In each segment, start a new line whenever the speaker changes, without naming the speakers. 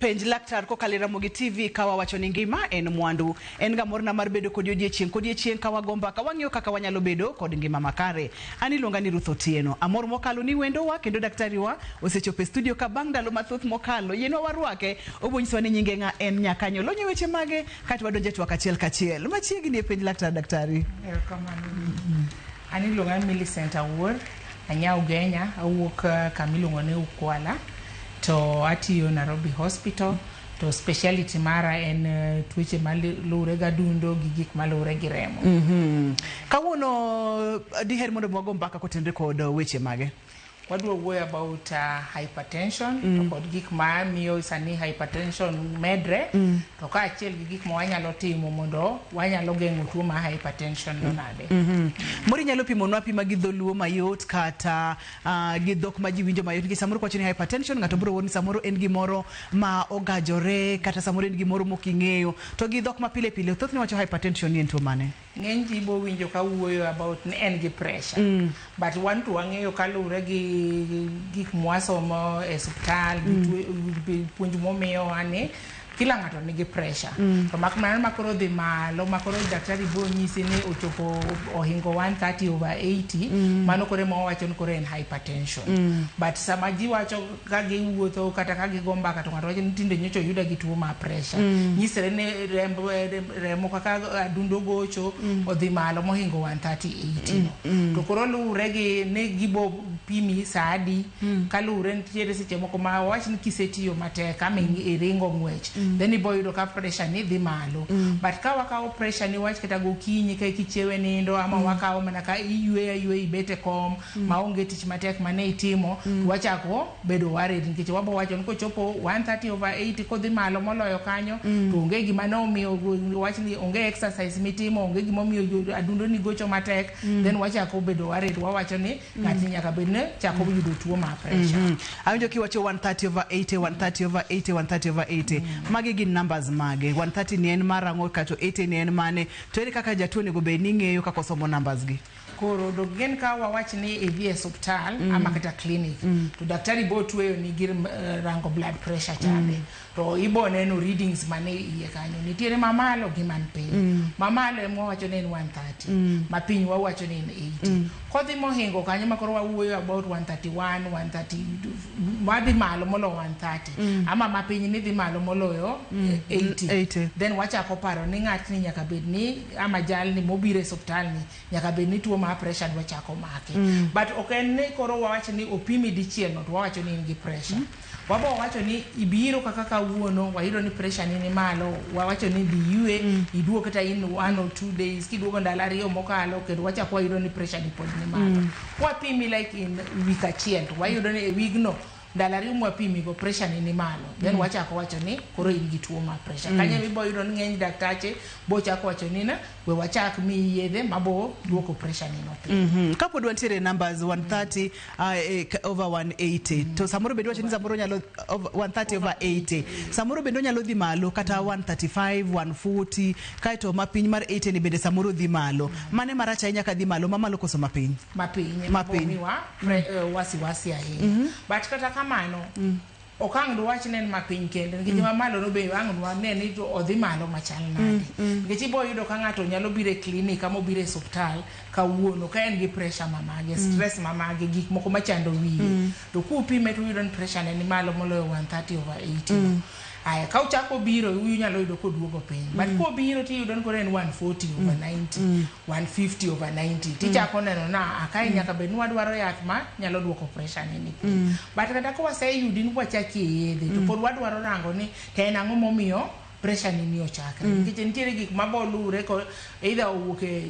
penj laktar kokalo e Ramogi TV ka wawacho ni ngima en mwandu. En ga morna mar bedo kodi odiechieng' kodiechieng' ka wago mbaka wang'iyo kaka wanyalo bedo kod ngima makare. An iluonga ni Ruth Otieno. Amor mokalo ni wendowa kendo daktariwa osechopo e studio ka bang' ndalo mathoth mokalo. Yienwa warwake, obonyiswa ni nyinge ng'a en nyakanyo, lonye weche mage, kato wadonje twak achiel kachiel. Machiegni e penj laktar daktari. Erokamano.
An iluonga ni Millicent Awuor, anya Ugenya, awuok kama iluongo ni Ukwala to atiyo Nairobi Hospital to speciality mara en eh, tuoche maluwre gi adundo gi gik maluwre gi remo. Kawuono
diher mondo mwago mbaka kotenre kod weche mage? Wadwa wuoyo
about uh, hypertension mm. to kod gik ma miyo sani hypertension medre mm. to ka achiel gi gik ma wanyalo timo mondo wanyalo geng'o tuo ma hypertension no nade. Mm -hmm. Mori nyalo pimo
nwa pima gi dholuo mayot kata uh, gi dhok ma ji winjo mayot nikech samoro kwacho ni hypertension ng'ato biro wuoni samoro en gimoro ma ogajore kata samoro en gimoro mok ing'eyo to gi dhok ma pile pile thothne wacho hypertension ni en tuo mane? Ng'eny ji bo winjo
ka wuoyo about ni en gi pressure. Mm. But wan to wang'eyo kaluwre gi gik mwasomo e suptal, mm. gi puonj momiyowa ni kila ng'ato nigi pressure. Mm. To mak mana makoro dhi malo, makoro daktari bo nyisi ni ochopo ohingo 130 over 80, mm. mano kore ma wawacho ni kore en hypertension. Mm. But sama ji wacho ka giwuotho kata ka gigo mbaka to ng'ato wacho ni tinde nyocha oyuda gi tuo mar presha mm. nyisre ni remb remo kaka adundo gocho mm. odhi malo mohingo 130 80 mm. mm. to koro luwre gi ni gibo pimi saa adi mm. ka luwre nitiere seche moko ma wach ni kisetiyo matek kama mm. iringo ng'wech mm. then ibo yudo ka presha ni dhi malo mm. but ka wakawo presha ni wach kata gokinyi ka kichiewe nindo ama mm. wakawo mana ka iyweyo ayweyo ibete kom ma onge tich matek mane itimo to wachako bedo worried nikech wabo wacho ni kochopo 130 over 80 kodhi malo moloyo kanyo to onge gima ne omiyo wach ni onge exercise mitimo onge gima omiyo jo- adundo ni gocho matek then wachako bedo worried wawacho ni ng'atni nyaka bed ni chako yudo tuo mar pressure Mm. Awinjo kiwacho 130
over 80, 130 over 80, 130 over 80. Magi gin numbers mage. 130 ni en marang'o kato 80 ni en mane. To ere kaka jatuo onego bed ni ng'eyo kaka osomo numbers gi? Koro dok gen
ka wawach ni idhi e suptal mm. ama kata clinic mm. to daktari bo tueyo ni gir uh, eh, rango blood pressure chande mm. to ibo neno readings mane iye kanyo nitiere mamalo gi man piny mm. mamalo ema wawacho ni en 130 mm. ma piny wawacho ni en 80 mm. kodhi mohingo kanyo ma koro wawuoyo about 131 130 wadhi malo molo 130 mm. ama ma piny ni dhi malo moloyo mm. 80. 80 then wachako paro ni ng'atni nyaka bed ni ama jalni mobiro e osuptal ni nyaka bed ni tuo mar pressure dwa chako make mm. but ok en ni koro wawacho ni opimi dichiel no to wawacho ni in gi pressure mm. wabo wawacho ni ibiro kaka kawuono wayudo ni pressure ni ni malo wawacho ni diyue mm. iduo kata in one or two days kiduogo ndalo ariyo mokalo kendo wachako wayudo ni pressure ni pod ni malo mm. wapimi like in week achiel to wayudo ni e wigno Ndalo ariyo mwapimi go pressure ni nimalo then mm. wachako wacho ni koro in gi tuo mar pressure mm. kanyo mibo yudo ni ng'eny daktache bo chako wacho ni na we wachak mi yedhe mabo duoko pressure ni no mm -hmm. kapod wantiere numbers
130 mm. uh, eh, over 180 mm. to samoro bedo wacho ni samoro nyalo over, 130 over 80 samoro bedo nyalo dhi malo kata 135 140 kae to mapiny mar 80 ni bende samoro dhi malo mm. mane marach ahinya ka dhi malo mamalo koso mapiny mapiny mapiny
Right. eh, wasiwasi ahinya but kata kamano ok ang' dwach nen ma piny kende nikech ma malo no be ang' dwane ni to odhi malo machal nade nikech ibo yudo ka ng'ato nyalo biro e klinik ama obiro e suptal kawuono ka en gi pressure mamage stress mamage gik moko machando wiye to kupime to uyudo ni pressure ne ni malo moloyo 130 over 80 Aya ka ochako biro unyalo yudo koduogo piny but mm. kobiro tiyudo ni koro en 140 mm. over 90 mm. 150 over 90 mm. tichako mm. neno na akae mm. nyaka bed ni wadwaro yath ma nyalo duoko pressure ni piny mm. but kata ka waseyudi ni wachaki e yedhe mm. to pod wadwaro rango ni to en ang'o momiyo pressure ni ni ochakre mm. nikech nitiere gik ma boluwre Either owuok e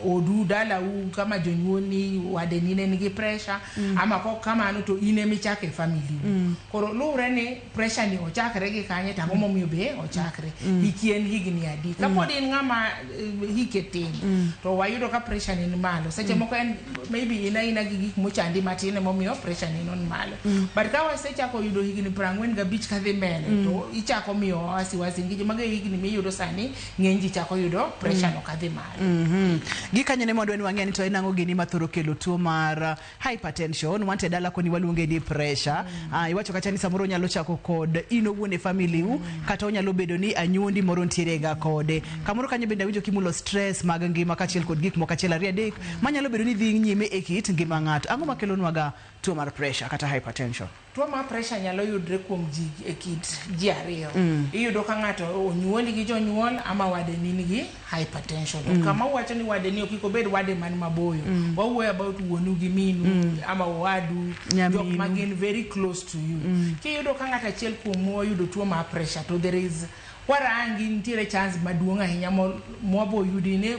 odu dalau kama jonyuolni wadeni ne nigi pressure mm. ama kok kamano to in ema ichako e family mm. koro luwre ni pressure ni ochakre gi kanye to ang'o mm. momiyo be ochakre mm. hiki en higni adi mm. kapod mm. in ng'ama eh, hike tin mm. to wayudo ka pressure ni ni malo seche mm. moko en maybe in aina gi gik mochandi matin emomiyo pressure ni non malo mm. but ka wasechako yudo higni piero ang'wen gabich kadhi mbele mm. to ichako miyo wasiwasi nikech mago e higni miyudo sani ng'eny ji chako yudo pressure no kadhi malo. Mhm. Gi kanyo ne mwadwa
ni wang'e ni to en ang'o gini mathoro kelo tuo mar uh, hypertension wanto e dala koni waluonge ni pressure Ah, iwacho kata ni samoro onyalo chako kod in owuon e family u kata onyalo bedo ni anyuondi moro nitiere ga kode kamoro kanyo bende awinjo kimulo stress mag ngima kachiel kod gik moko achiel ariyo adek manyalo bedo ni dhi nyime e kit ngima ng'ato ang'o makelonwaga tuo mar pressure kata hypertension Tuo mar pressure nyalo
yudre kuom ji e kit ji ariyo. Mm. Iyudo ka ng'ato onyuoli gi jonyuol ama wade ni nigi hypertension. Mm. Kama uwacho ni wade ni okiko bed wade man maboyo. Mm. Wawuoyo about wuonu gi minu mm. ama wadu jok ma gin very close to you. Mm. Kiyudo ka ng'ato achiel kuom oyudo tuo mar pressure to there is warangi nitiere chance maduong' ahinya mwabo yudi ni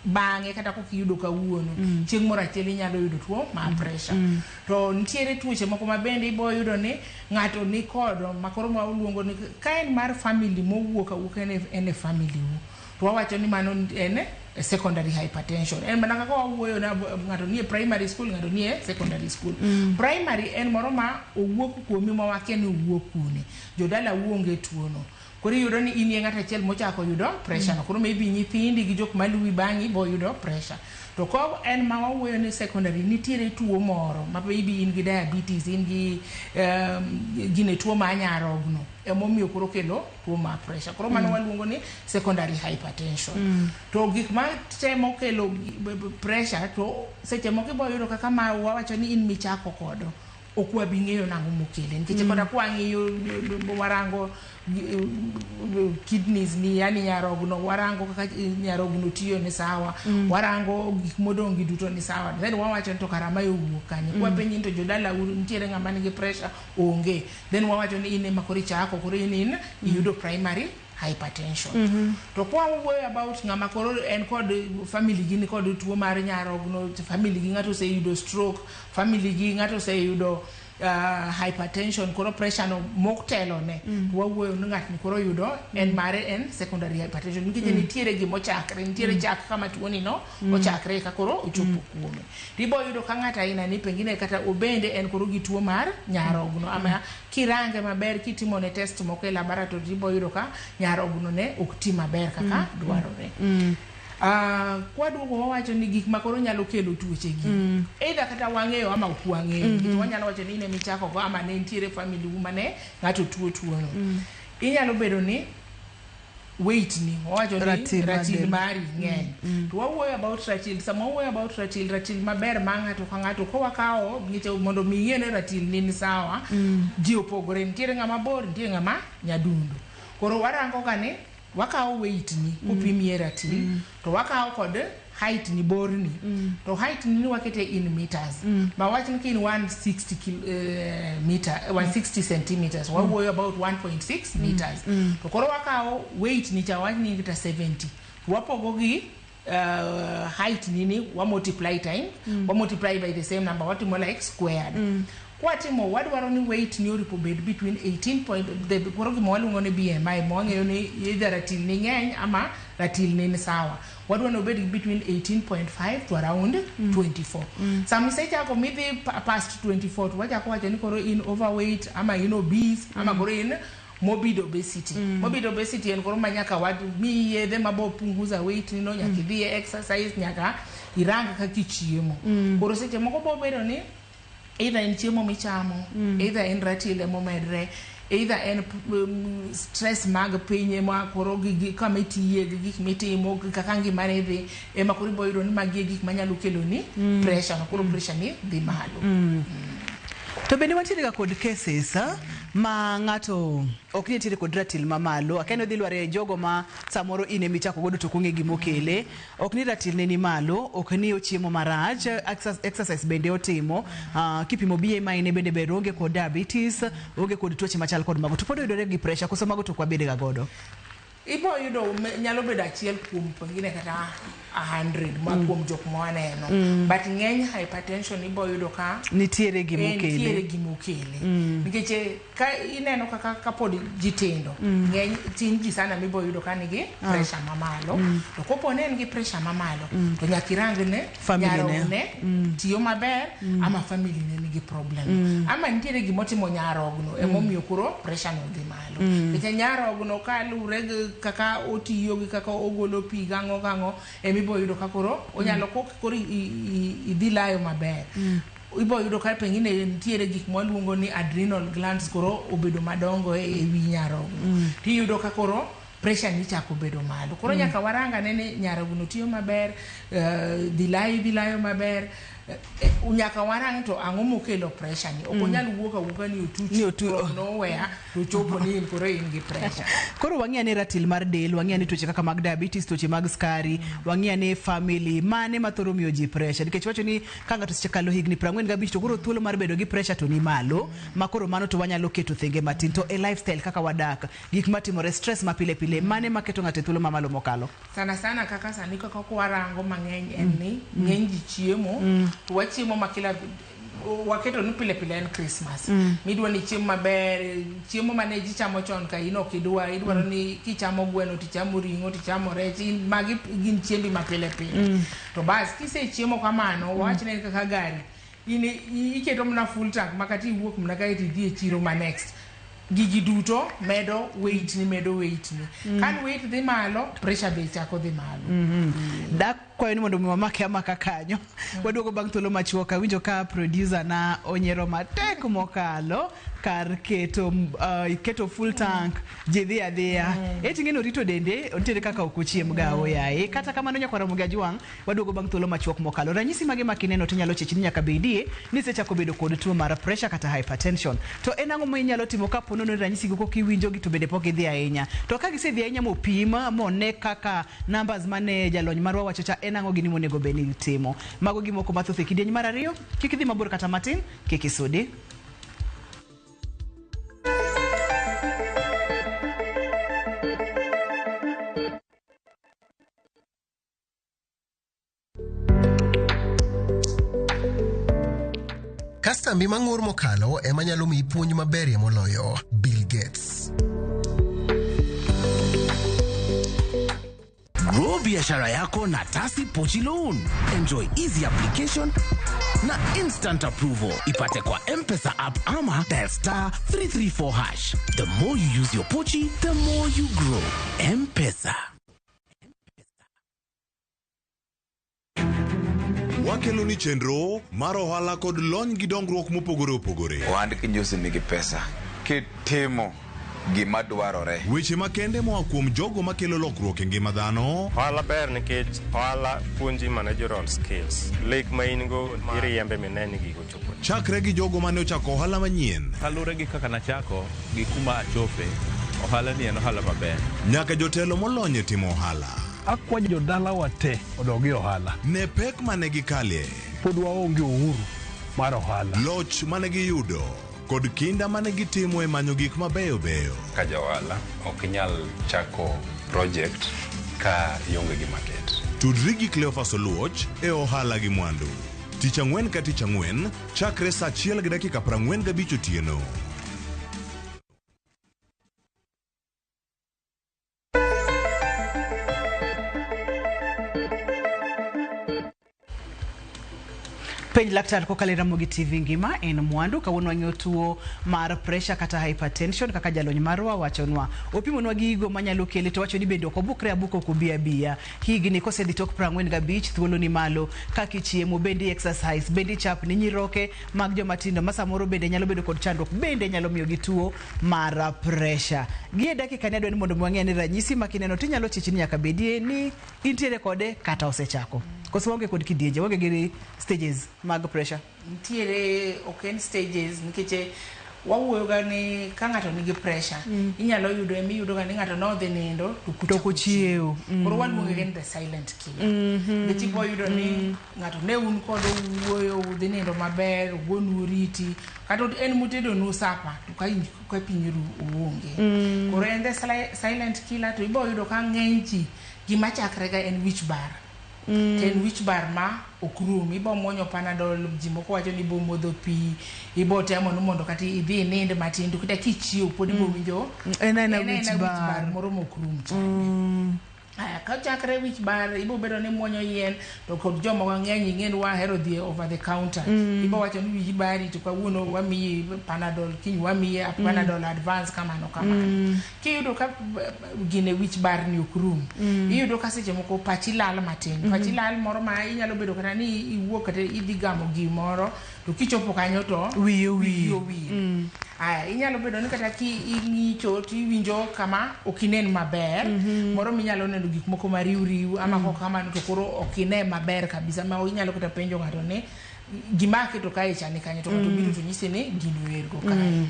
bang'e kata kokiyudo kawuono mm. chieng' moro achiel inyalo yudo tuo mar pressure. Mm. To nitiere tuoche moko ma bende ibo yudo ni ng'ato ni kodo ma koro ma uluongo ni ka en mar family mowuok awuoka en e, en e family u to wawacho ni mano en e secondary hypertension en mana kaka wawuoyo na ng'ato nie primary school ng'ato nie secondary school mm. primary en moro ma owuok kuomi ma wakia ni owuok kune jodala uonge tuono Koro iyudo ni inie ng'at achiel mochako yudo pressure no. Mm. Koro maybe nyithindi gi jok maluwi bang'i bo yudo pressure. To ko en ma wawuoyo ni secondary nitiere tuo moro ma maybe in gi diabetes, in gi um, gine tuo ma anyarogno emomiyo koro kelo tuo ma pressure. Koro mano mm. waluongo ni secondary hypertension. Mm. To gik ma temo kelo pressure to seche moko ibo yudo kaka ma wawacho ni in michako kodo. ok wabi ng'eyo nang'o mokele nikech mm. kata kwang'iyo warango eh, kidneys ni yani nyarogno warango kaka eh, nyarogno tiyo ni sawa mm. warango gik modong' gi duto ni sawa then wawacho ni to kara ma owuok kanye mm. kwapenyi ni to jodala uru nitiere ng'ama nigi pressure onge then wawacho ni in ema koro ichako koro in in mm. iyudo primary hypertension mm -hmm. to kwa wuoyo about ng'ama koro en kod family gi ni kod tuo mar nyarogno family gi ng'ato oseyudo stroke family gi ng'ato oseyudo uh, hypertension koro pressure no moktelo ne mm. to wawuoyo ni ng'atni koro yudo mm. en mare en secondary hypertension nikech mm. nitiere gimo chakre nitiere mm. chak kama tuoni no mm. ochakre ka koro ochopo mm. kuome tibo yudo ka ng'ato aina ni pengine kata obende en koro gi tuo mar nyarogno ama mm. Kirange maber kitimone test moko e laboratory ibo yudo ka nyarogno ne ok ti maber kaka mm. dwarore. Mm. Uh, kwaduogo wawacho ni gik makoro nyalo kelo tuoche gi mm. either kata wang'eyo ama ok wang'eyo mm -hmm. wanyalo wacho ni ne michako go ama ne nitiere family uma ne ng'ato tuo tuono mm. inyalo bedo ni weight ni wawacho ni Ratil ratil madel. mari ng'eny to wawuoyo about ratil sama wawuoyo about ratil ratil maber ma ng'ato ka ng'ato ka wakawo ngiche mondo mi ing'e ni ratil ni ni sawa ji opogore nitiere ng'ama bor nitiere ng'ama nyadundo koro warango ga ni wakawo weight ni kupimie ratil to wakawo kod height ni bor ni mm. to height ni wakete in meters mm. ma wach ni kin 160 kil, uh, meter 160 eh, centimeters mm. wawuoyo about 1.6 mm. meters mm. to koro wakawo weight ni cha wach ni kita 70 wapogo gi uh, height nini wa multiply time mm. wa multiply by the same number watimo like squared mm. Kwatimo wadwaro ni weight ni orip obed between 18 point the koro gima waluongo ni BMI ma wang'eyo ni either ratil ni ng'eny ama ratil ni ni sawa. Wadwa ni obed between 18.5 to around 24. Sama isechako midhi pa- past 24 to wachako wacho ni koro in overweight ama in obese ama koro in morbid obesity. Morbid obesity en koro ma nyaka wad mi yedhe ma bo punguza weight ni no nyaka idhi e exercise nyaka irang kaka ichiemo. Koro seche moko bo bedo ni either en chiemo michamo mm. either en ratil ema omedre either en um, stress mag piny ema koro gi kama itiye gi gik mitimo kaka ngima ne dhi ema koro ibo yudo ni magi e gik manyalo kelo ni mm. pressure no koro mm. pressure ni dhi malo mm. mm.
to bende watiere ga kod cases ah, ma ng'ato ok ni tiere kod ratil mamalo akendo dhi lware jogo ma samoro in emichako godo to kong'e gimokele Ok ni ratilne ni malo, ok ni ochiemo marach, exer- exercise bende otimo. Uh, kipimo BMI ne bende ber, onge kod diabetes, onge kod tuoche machal kod mago. To pod oyudore gi pressure, koso mago to ok wabede ga godo. ibo
yudo me- nyalo bedo achiel kuom pengine kata a hundred ma kuom jok ma waneno but ng'eny hypertension ibo yudo ka Nitiere gimokele.
nitiere gimokele
nikech eh, Ka ineno kaka kapod ji tindo, mm. ng'eny tin ji sana mibo yudo ka nigi ah. pressure mamalo. Mm. To kopo ne en gi pressure mamalo, mm. to nyaka irang ne nyarogno mm. tiyo maber mm. ama family ne nigi problem. Mm. Ama nitiere gima otimo nyarogno mm. emomiyo koro pressure no dhi malo. Mm. Nikech nyarogno ka luwre gi kaka otiyo gi kaka ogolo pi gang'o gang'o emibo yudo ka koro onyalo mm. kok koro idhi layo maber. Mm. Ibo yudo ka pengine nitiere gik mwaluongo ni adrenal glands koro obedo madongo e wi nyarogno. Mm. Tiyudo ka koro pressure ni chako bedo malo. Koro mm. nyaka waranga ne ni nyarogno tiyo maber, uh, eh, dhilayo dhilayo maber. Uh, nyaka warang to ang'o mokelo pressure ni. Ok mm. onyal mm. wuok awuoka ni otuch ni otu, oh. nowhere to chopo ni in koro in gi pressure koro wang'e ane ratil
mar del wang'e ane tuoche kaka mag diabetes tuoche mag skari wang'e ane family mane ma thoro miyo ji pressure nikech wacho ni ka ng'ato osekalo higni 45 to koro thuolo mar bedo gi pressure to ni malo ma koro mano to wanyalo keto thenge matin to e lifestyle kaka wadak gik matimore stress ma pile pile mane ma keto ng'ato e thuolo ma malo mokalo sana sana kaka
sani kaka kwarango mang'eny en ni ng'eny ji chiemo to wachiemo ma kila waketo ni pile pile en Christmas mm. midwa ni chiemo maber chiemo mane ji chamo chon ka in ok idwa idwaro mm. ni kichamo gweno tichamo ring'o tichamo rech magi gin chiembi ma pile pile mm. to bas kise chiemo kamano mm. wawach ne kaka gari in iketo mna full tank makati iwuok mna kae to idhi e chiro ma next gigi duto medo weight ni medo weight ni mm. kan weight dhi malo pressure be chako dhi malo mm -hmm. mm. kwayo
ni mondo mi wamake amaka kanyo waduogo bang' thuolo machuok awinjo ka producer na onyero matek mokalo kar keto uh, keto full tank ji dhi adhiya eti ng'eni orito dende nitiere kaka ok ochiem gawo yaye kata kamano nyakwara mugi ajwang' waduogo bang' thuolo machuok mokalo ranyisi mage ma kineno to inyalo chechi ni nyaka bedie ni sechako bedo kod tuo mar pressure kata hypertension to en ang'o ma inyalo timo ka po nono ni ranyisigo kok iwinjogi to bende pok idhi ahinya to ka gisedhi ahinya mopim mone kaka Numbers mane jalony marwa wacho cha en ang'o gini monego bed ni itimo. Mago gi moko mathoth e kidieny mar ariyo. Kik idhi mabor kata matin, kik isudi.
Kastambi mang'ur mokalo ema nyalo miyi puonj maberie moloyo Bill Gates.
Grow biashara yako na Tasi Pochi Loan. Enjoy easy application na instant approval. Ipate kwa M-Pesa app ama dial star 334 hash. The more you use your Pochi, the more you grow. M-Pesa.
Wakelo ni chenro mar ohala kod lony gi dongruok mopogore opogore. Ohand kinyosi nigi
pesa kitimo gima dwarore. Weche makende moa
kuom jogo makelo lokruok e ngima dhano. Ohala ber nikech
ohala puonji managerial skills. Lek ma in go iriembe mineni gigo Chakre gi jogo mane
ochako ohala manyien. Kaluwore gi kaka nachako
gi kuma achope, ohala ni en ohala maber. Nyaka jotelo
molony e timo ohala. Akwa jodala
wa te odogi ohala. Ne pek mane
gikalie. Pod waonge
uhuru mar ohala. Loch mane giyudo
kod kinda mane gitimo e manyo gik mabeyo beyo. Ka ja ohala
ok inyal chako project ka ionge gi market. Tudri gi Cleophas
Oluoch e Ohala gi Mwandu. Tich Ang'wen ka Tich Ang'wen chakre sa achiel gi dakika prang'wen gabich otieno.
Penj laktar kokalo Ramogi TV ngima en mwandu kawuono wang'eyo tuo mar pressure kata hypertension kaka jalony marwa wachonwa opimonwa gigo manyalo kele to wacho ni bende ok obukre abuka ok obi abiya Higni kosedhi tok prang'wen gabich thuolo ni malo kaka ichiemo bende exercise bende ichapni nyiroke mag joma tindo ma samoro bende nyalo bedo kod chandruok bende nyalo miyo gi tuo mar pressure. Gie dakika ni adwa ni mondo mwang'e ni ranyisi ma kineno to inyalo chichi ni nyaka bedie ni intiere kode kata osechako. Koso waonge kod kidienje, waonge gi stages
mag pressure. nitiere
ok
en
stages
nikech eh, wawuoyoga ni ka ng'ato nigi pressure mm. inyalo yudo ema iyudoga ni ng'ato nodhi nindo to kochiewo
mm. koro waluonge ni
the silent killer mm-hmm. nikech ibo yudo ni mm. ng'ato ne un kod wuoyo udhi nindo maber ugonu oriti kata en mutedonu sapa to ka pinyiru uonge mm. koro en the silent killer to ibo yudo ka ng'eny ji gima chakrega en wich bar to en wich bar ma ok rum. Ibo muonyo panadol, ji moko wacho ni ibo modho pi, ibo temo ni mondo kata idhi inind matin to kata kichiew pod ibo winjo En aena en aena wich wich bar
bar. moro mok rum
chande. Aya, ka chakre wich bar ibo bedo ni muonyo yien to kod joma wang'eny ing'eni wahero dhi e over the counter ibo wacho ni wiyi bari to kawuono wamiyi panadol kiny wamiyi panadol advance kamano kamano kiyudo ka gine wich barni ok rum mm. iyudo ka seche moko pachi lal matin mm -hmm. pachi lal moro ma inyalo bedo kata ni iwuok kata idhi gamo gimoro to kichopo kanyo to wiyo wiyo wiyo
mm.
aya inyalo bedo ni kata ki ing'icho to iwinjo kama ok inen maber mm -hmm. moro minyalo neno gik moko ma riw riw ama mm. kok kamano to koro ok ine maber kabisa ma inyalo kata penjo ng'ato ni gima aketo kae chani kanyo to ng'ato mm. biro to nyise ni gino ergo kae mm.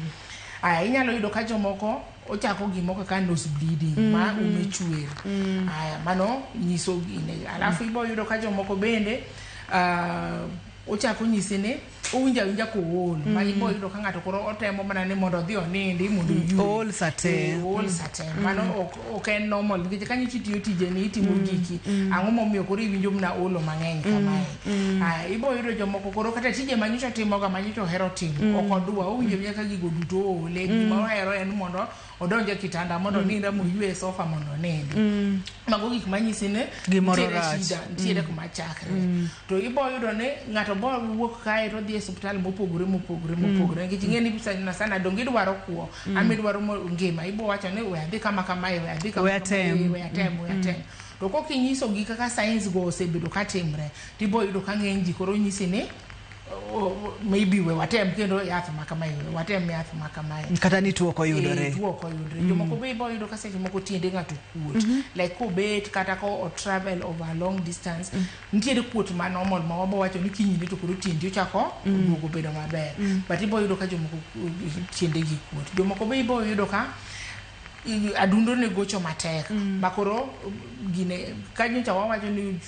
Aya, inyalo yudo ka jomoko ochako gimo kaka nose bleeding mm -hmm. ma mm-hmm. ume chuer mm. aya mano nyiso gine alafu mm. ibo yudo ka jomoko bende uh, ochako nyise ni owinjo awinja kool mm. ma ibo yudo ka ng'ato koro otemo mana ni mondo odhi onindi mondo mm. ool sate eh,
ool mm. sate mm. mano
ok ok en normal nikech kanyo chi tiyo tijeni itimo mm, giki mm. ang'o momiyo koro iwinjo mna olo mang'eny mm, kamae mm. ah, ibo yudo jomoko koro kata tije manyocha timoga manyocha ohero timo mm. ok odwa owinjo mm. nyaka gigo duto oole mm. gima ohero en mondo odonje kitanda mondo mm. ninda moywe sofa mondo onindi mm. mago gik manyisi ni gimoro rach nitiere mm. kuma chakre mm. to iboyudo ni ng'ato bo wuok kae to odhi e suptal mopogore mopogore mm. mopogore nikech ing'e ni sana sana donge idwaro kwo mm. ama idwaro ngima ibo wacho ni we adhi kama kamae we adhi kama we atem we atem mm. to kok inyisogi kaka science go osebedo ka timre to ibo yudo ka ng'eny ji koro nyisi ni maybe we watem kendo yath ma kamae we watem yath ma kamae kata ni tuo koyudore
eh, tuo koyudore mm. jomoko be
ibo yudo ka seche moko tiende ng'ato kuot mm-hmm. like kobet kata ko travel over long distance mm. Nitiere kuot ma normal ma wabo wacho ni kinyne to koro tiendi ochako mm. duogo bedo maber. Mm. But ibo yudo ka jomoko tiende gi kuot. Jomoko be ibo yudo ka adundo ne gocho matek mm. ma koro gine ka nyocha wawacho ni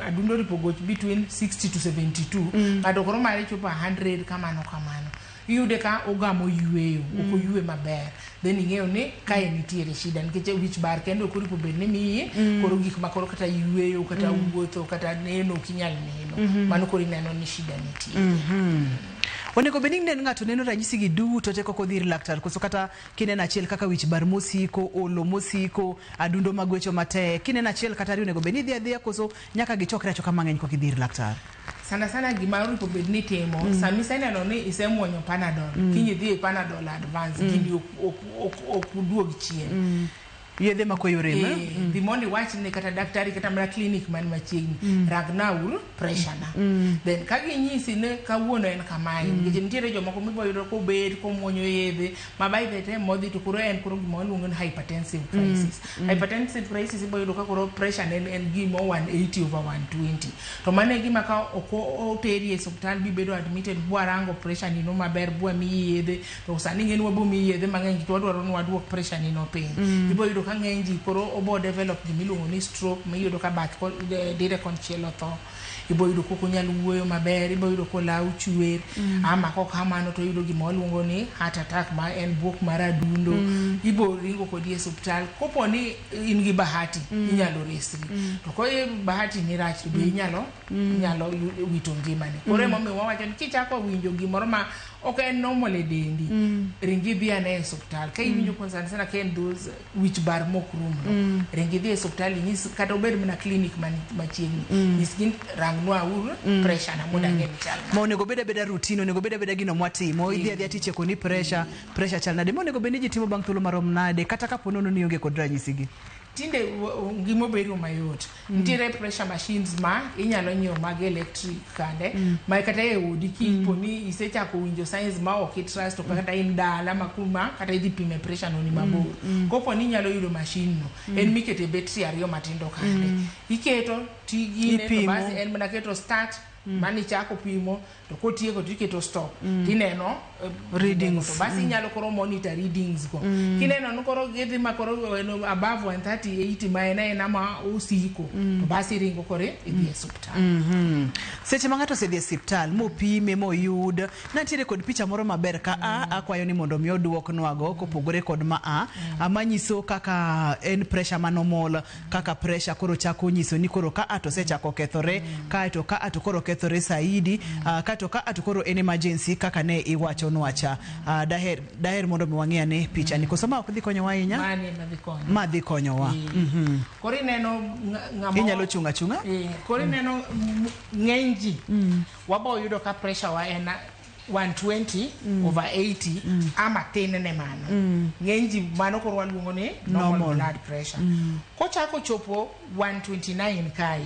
adundo ripo goch between 60 to 72 mm. ng'ato koro mare chopo 100 kamano kamano Iyude ka ogamo yueyo, mm. ok oyue maber. Then ing'eyo ni kae mm. nitiere shida nikech wich bar kendo ok oripo bed ni miyi mm. koro gik ma koro kata yueyo kata mm. wuotho kata neno ok inyal neno. Mm -hmm. Mano koro ineno ni shida nitie. Mm -hmm.
Onego bed ni nen ng'ato neno ranyisi gi duto te koko dhir laktar koso kata kineno achiel kaka wich bar mosiko, olo mosiko, adundo magwecho matek. Kineno achiel kata riyo onego bed ni idhi adhiya koso nyaka gichokre achoka mang'eny kokidhir laktar. Sana sana gima
onego bed ni itimo mm. sama iseneno ni isemuonyo panadol mm. kiny idhi e panadol advance mm. kindi ok uduog chien mm. yedhe ma koyo
rem eh, eh? mm. dhi mondo iwach
ne kata daktari kata mana klinik man machiegni mm. ragnaul preshana mm. mm. then ka ginyisi ne kawuono en kamae mm. nikech nitiere jomoko miboyudo kobet komwonyo yedhe Mama ithete modhi to koro en koro gima waluongo ni hypertensive mm, crisis. Mm, mm. Hypertensive crisis ibo yudo ka koro pressure ne en gima 180 over 120. To mano e gima ka ok oteri e hospital bi bedo admitted bwa rango pressure nino maber bwa mi yedhe to sani ng'en wabo mi yedhe mang'eny to wadwaro ni wadwok pressure nino piny. Mm. Ibo yudo ka ng'eny ji koro obo develop gima iluongo ni stroke ma yudo ka bath dire konchiel otho. ibo yudo kok onyal wuoyo maber ibo yudo kolaw chwer mm. ama kok kamano to yudo gima waluongo ni heart attack ma en buok mar adundo mm. ibo ringo kodi e suptal kopo ni in gi bahati mm. inyalo resri mm. to ko bahati ni rach to be mm. inyalo mm. inyalo wito ngimani mm. kore momi wawacho ni kichako winjo gimoro ma ok en normal e dendi mm. ringi dhi ane e suptal ka iwinjo mm. konsana sana ka en those wich bar mok rum no mm. ring idhi e siptal inyis kata obed mana klinik man machiegni mm. nyisgi rangnwa uru mm. pressure na mondo mm. ang'e ni chal ma onego beda beda
routine onego beda beda gino mwatimo idhi adhi ati cheko ni pressure mm. pressure chal nade monego bed ni ji timo bang' thuolo marom nade kata kapo nono ni onge kod ranyisi gi tinde
ngima obedo mayot Nitiere pressure machines ma inyalo nyiew mag electric kande mm. ma kata e odi ki mm. poni isechako winjo signs ma ok itrust to kata in dala ma kuma kata idhi pime pressure no ni mabor. Mm. mm. Kopo ni inyalo yudo machine no mm. en mikete battery ariyo matindo kande. Mm. Iketo tigi ne to basi en mana keto start mm. mani chako pimo to kotieko to iketo stop mm. tineno eh, readings
to basi mm. inyalo mm. koro
monitor readings go mm. kineno ni koro gidhi ma koro above 138 ma en aena ma osiko mm. to basi iringo koro idhi e osiptal mm -hmm. seche ma ng'ato
osedhi e osiptal mopime moyud natiere kod picha moro maber ka mm. a akwayo ni mondo mi oduoknwago kopogore kod ma a mm. manyiso kaka en pressure manomol kaka pressure koro chako nyiso ni koro ka ato osechako kethore kae to ka ato koro kethore saidi uh, kae to ka ato koro en emergency kaka ne iwacho nwacha uh, daher, daher mondo mi wang'e ane picha ni koso ma ok dhi konyowa ahinya Mani ema dhi konyo. ma dhi konyowa mm. Koro ineno
ng- ng'ama inyalo chung' achung'a Eh,
koro ineno
m- ng'eny ji waboyudo ka pressure wa en 120 over 80 ama tin ne mano ng'eny ji mano koro waluongo ni normal, Normal. blood pressure kochako chopo 129 kae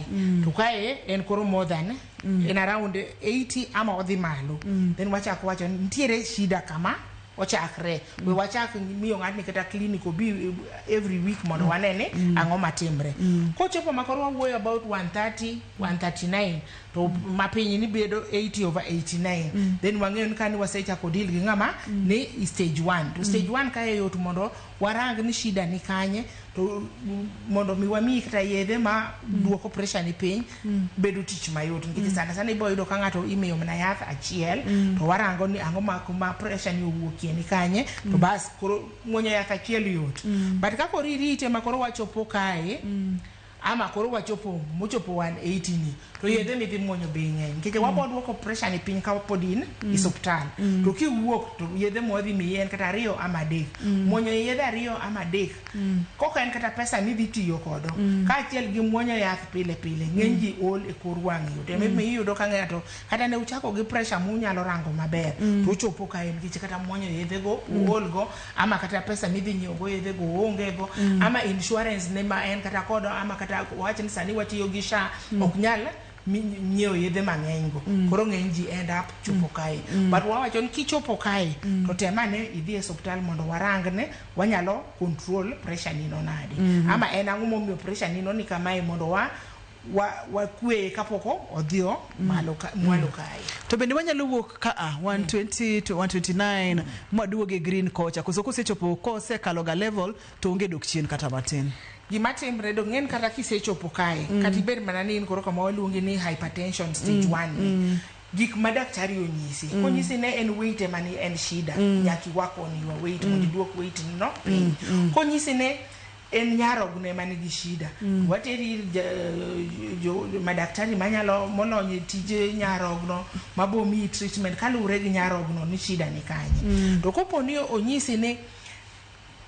to kae en koro more than en around 80 ama odhi malo then wachako wacho ni nitiere shida kama ochakre we wachak miyo ng'atni kata clinic obi eh, every week mondo wane ni ang'o matimre kochopo ma koro wawuoyo about 130 139 to ma piny ni bedo 80 over 89 mm. then wang'eyo ni kani wasechako deal gi ng'ama mm. ni stage 1 to stage 1 mm. kae yot mondo warang ni shida ni kanye to mondo mi wamiyi kata yedhe ma mm. duoko pressure ni piny mm. bedo tich mayot nikech mm. sana sana ibo yudo ka ng'ato imiyo mana yath achiel mm. to warango ni ang'o ma kuma pressure ni owuokie ni kanye mm. to bas koro muonyo yath achiel yot mm. but kakoro irite ma koro wachopo kae mm. Ama koro wachopo mochopo wan 80 ni to yedhe midhi muonyo bei ng'eny nikech mm. wabo duoko pressure ni piny ka pod in mm. isuptal mm. to kiwuok to yedhe mwadhi miyi en kata ariyo ama adek mm. muonyo yedhe ariyo ama adek mm. koka en kata pesa midhi tiyo kodo mm. kaachiel gi muonyo yath pile pile ng'eny mm. ji ol e kor wang' yot e mm. iyudo ka ng'ato kata ne uchako gi pressure munyalo rango maber mm. to uchopo ka en nikech kata muonyo yedhego mm. uolgo ama kata pesa midhi nyiewogo yedhego oongego mm. ama insurance ne ma en kata kodo ama kata wach ni sani watiyo gi sha mm. ok nyal nyiewo yedhe mang'eny go mm. koro ng'eny ji end up chopo mm. kae mm. but wawacho ni kichopo kae mm. to tem ane idhi e osiptal mondo warang ne wanyalo control pressure nino nadi mm -hmm. ama en ang'o momiyo pressure nino ni kamae mondo wa wa wakweye kapok o- odhi o- malo ka- mwalo kae to bende wanyalo
wuok ka a 120 to 129 mwaduog e green kocha koso kosechopo kosekalo ga level to onge dok chien kata matin gima timre do
ng'en kata kisechopo kae Mm. kata ibed mana ni in koro kama waluongi ni hypertension stage Mm, one ni, mm. gik ma daktari onyisi Mm. konyisi ne en weight ema ni en shida Mm. nyaka iwak on your weight Mm. mondo iduok weight no piny Mm, mm. konyisi ne en nyarogno ema nigi shida mm. wateri ir madaktari manyalo molony e tije nyarogno mabomiyi treatment kaluwore gi nyarogno ni shida ni kanye mm. to kopo ni onyisi ni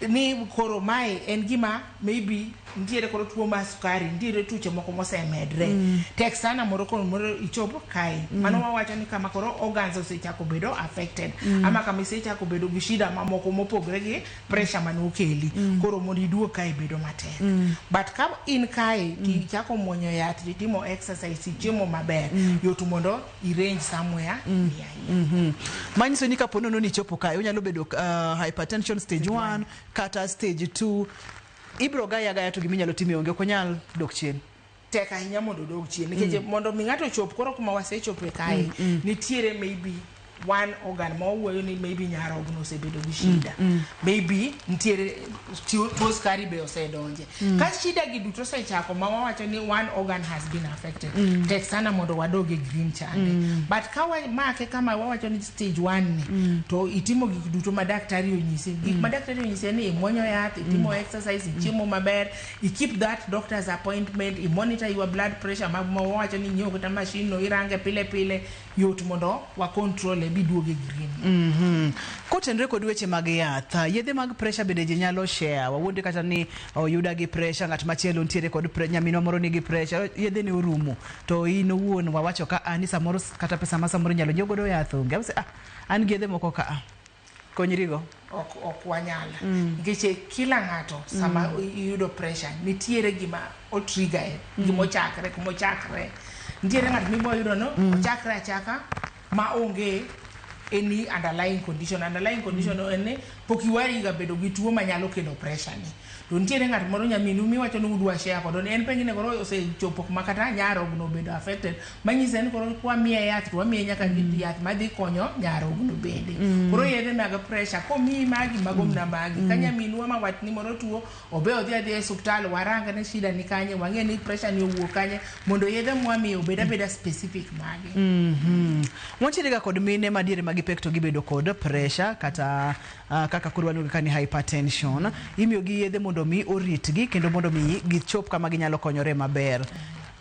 ni koro mae en gima maybe nitiere koro tuo mar sukari nitiere tuche moko mosemedre mm. tek sana moro koro moro ichopo kae mm. mano wawacho ni kama koro organs osechako bedo affected mm. ama kama isechako bedo gi shida mamoko mopogre gi pressure mane okeli mm. koro mondo iduog kae bedo matek mm. but ka in kae mm. tichako mwonyo yath titimo exercise ichiemo maber mm. yot mondo irange somewhere mm. yeah, yeah. Mm -hmm.
manyiso ni kapo nono ni chopo kae unyalo bedo uh, hypertension stage 1 kata stage 2 ibro gaya gaya to giminyalo time onge ok onyal dok chien tek ahinya mondo
odog chien nikech mm. mondo mi ng'ato chop koro kuma wasechope kae mm, mm. nitiere maybe one organ ma wawuoyo ni maybe nyarogno osebedo gi shida mm, mm. maybe nitiere tuo skari be osedonje mm. ka shida gi duto osechako ma wawacho ni one organ has been affected mm. tek sana mondo wadog e green chande mm. but ka wamake kama wawacho ni stage one ni mm. to itimo gik duto ma daktari onyisi gik mm. ma daktari onyisi en ni imwonyo yath itimo mm. exercise ichiemo mm. maber I keep that doctor's appointment, i monitor your blood pressure ma wawacho ni inyiew kata machine no irange pile pile, yot mondo wa control e biduog e green. Mhm. Kotenre kod
weche mag yath, ah, yedhe mag pressure bende ji nyalo share. Wawuonde kata ni oyuda gi pressure, ng'at machielo nitiere kod pre, nyaminwa moro nigi pressure, yedhe ne orumo. To in owuon wawacho ka ah, ni samoro s- kata pesa ma samoro inyalo nyiew godo yath onge. Use, ah, an gi yedhe moko ka ah. Konyrigo. Ok, ok
wanyal. Nikech e kila ng'ato sama iyudo pressure, nitiere gima o trigger e, gima ochakre, kuma ochakre. Nitiere ng'ato mibo yudo no, ochakre achaka ma onge any underlying condition. Underlying condition en ni pok iwariga bedo gi tuo manyalo kelo pressure ni. To nitiere ng'at moro nyaminu miwacho ni udwa share kodo ni en penjo ni koro osechopo kuma kata nyarogno obedo affected manyiso en koro kwamiye yath to wamiye nyaka mm. yath madhi konyo nyarogno bende mm. koro yedhe mag pressure komiyi magi mago mna magi mm. ka nyaminwa ma watni moro tuo obe odhi adhi e osiptal warang ne shida ni kanye wang'e ni pressure ni owuok kanye mondo yedhe mwamiye obed abeda specific magi mm -hmm. wachirega
kod mine madiere magipek to gibedo kod pressure kata Uh, kaka koro waluongo ka ni hypertension imiyogi yedhe mondo mi oritgi kendo mondo mi gichop kama ginyalo konyore maber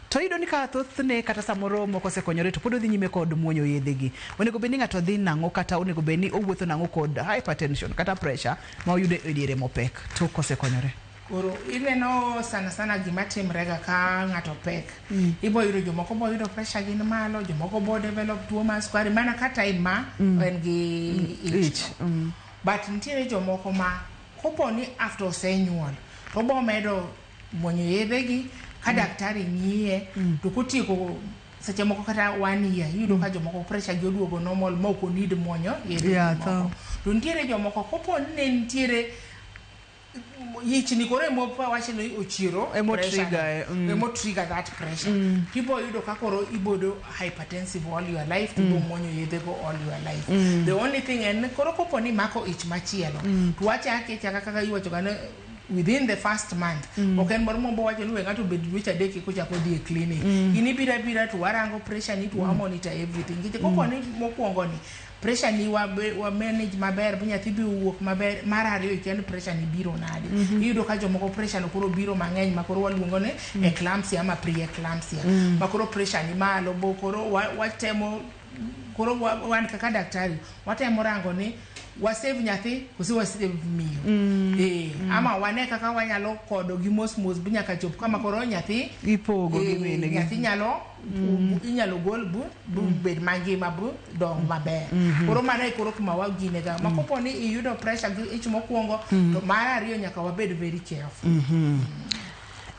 to iyudo ni ka thothne kata samoro moko osekonyore to pod odhi nyime kod muonyo yedhegi onego bed ni ng'ato dhi nang'o kata onego bed ni owuotho nang'o kod hypertension kata pressure ma oyudo e diere mopek tok kosekonyore Koro ineno
sana sana gima timrega ka ng'ato pek. Mm. Ibo yudo jomoko bo yudo pressure gin malo, jomoko bo develop tuo mar sukari mana ka time ma mm. en gi mm. ich. Mm. But nitiere jomoko ma kopo ni after osenyuol to bo medo muonyo yedhegi ka mm. daktari ng'iye mm. to kotieko seche moko kata one year iyudo mm. ka jomoko pressure gi oduogo normal ma ok onid muonyo yedhegi yeah, moko. To nitiere jomoko kopo ni ne nitiere yichni koro emowach ni ochiro Emo pressure trigger, no. eh,
mm. emo trigger that pressure
people yudo ka koro ibodo hypertensive all your life to go muonyo yedhe go all your life the only thing en ni koro kopo ni mako ich machielo to wachake chaka kaka iwacho gane within the first month ok en moro mombo wacho ni we ng'ato obed dweche adek eka ochako dhi e clinic in ibira bira to warango pressure ni to wamonitor everything nikech kopo ni mokwongo ni pressure ni wa, wa manage maber bu nyathi bi wuok maber mar ariyo ikia ni pressure ni biro nade mm -hmm. iyudo ka jomoko pressure no koro biro mang'eny ma koro waluongo ni mm -hmm. eclampsia ama preeclampsia mm -hmm. ma koro pressure ni malo bo koro watemo wa koro wan kaka daktari watemo rango ni wasave nyathi kose wasave miyo mm. e, mm. ama wane kaka wanyalo kodo gi mos mos bi nyaka chop kama koro nyathi ipogo e, gi mine
nyathi nyalo
mm. inyalo gol bu bro mm. bed mangima bro dong maber mm -hmm. koro mano e koro kuma wagine ga ma mm. kopo ni iyudo pressure gi ich mokwongo mm. to mar ariyo nyaka wabed very careful mm -hmm. mm.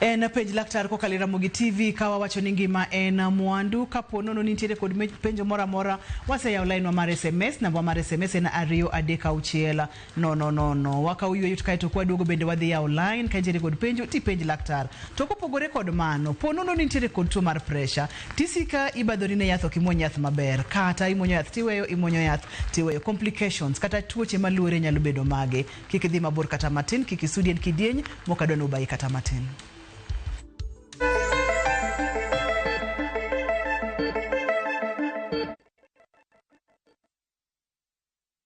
en penj laktar kokalo e ramogi tv ka wawacho ni ngima en mwandu kapo nono ni nitiere kod penjo moro amora waseyawo lainwa mar sms namba mar sms en ariyo adek auchiel No, no, no, no. Waka uyweyo to kae to kwaduogo bende wadhi yawo line ka nitiere kod penjo tipenj laktar. To kopogore kod mano, po nono ni nitiere kod tuo mar pressure, tisika ibadhori ne yath ok imuony yath maber, kata imuonyo yath tiweyo, imuonyo yath tiweyo. Complications kata tuoche maluore nyalo bedo mage. Kik idhi mabor kata matin, kik isudi en kidieny mokadwa ni obayi kata matin.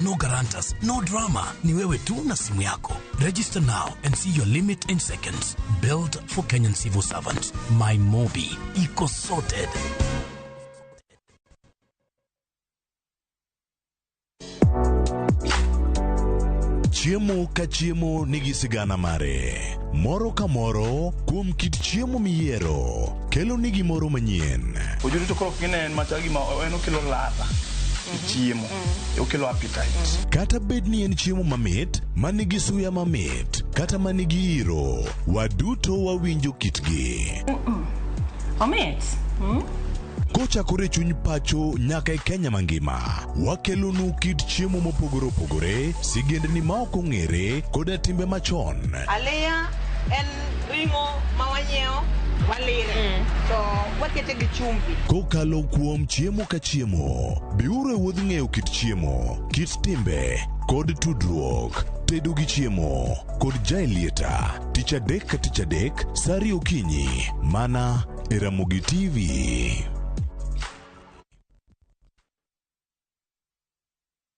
No guarantors, no drama. Ni wewe tu na simu yako. Register now and see your limit in seconds. Built for Kenyan civil servants. My Mobi. Iko sorted.
Chiemo ka chiemo nigi sigana mare. Moro ka moro kuom kit chiemo miyiero kelo ni gimoro manyien. Ojudu to koro ok gine
en macha gima en okelo ladha e chiemo. okelo appetite. Kata bed ni en
chiemo mamit, ma nigi suya mamit, kata ma nigi iro, waduto wawinjo kitgi.
Omit. Mm.
Kochakore e chuny pacho nyaka e Kenya mangima, wakelonu kit chiemo mopogore opogore, sigendni ma ok ong'ere, koda timbe machon. Aliya
en Ring'o ma wanyiewo walire mm. to wakete gi chumvi. Kokalo kuom
chiemo ka chiemo, biuru e wuodh ng'eyo kit chiemo, kit timbe kod tudruok tedo gi chiemo kod jailieta tich adek ka tich adek sari okinyi mana e Ramogi TV.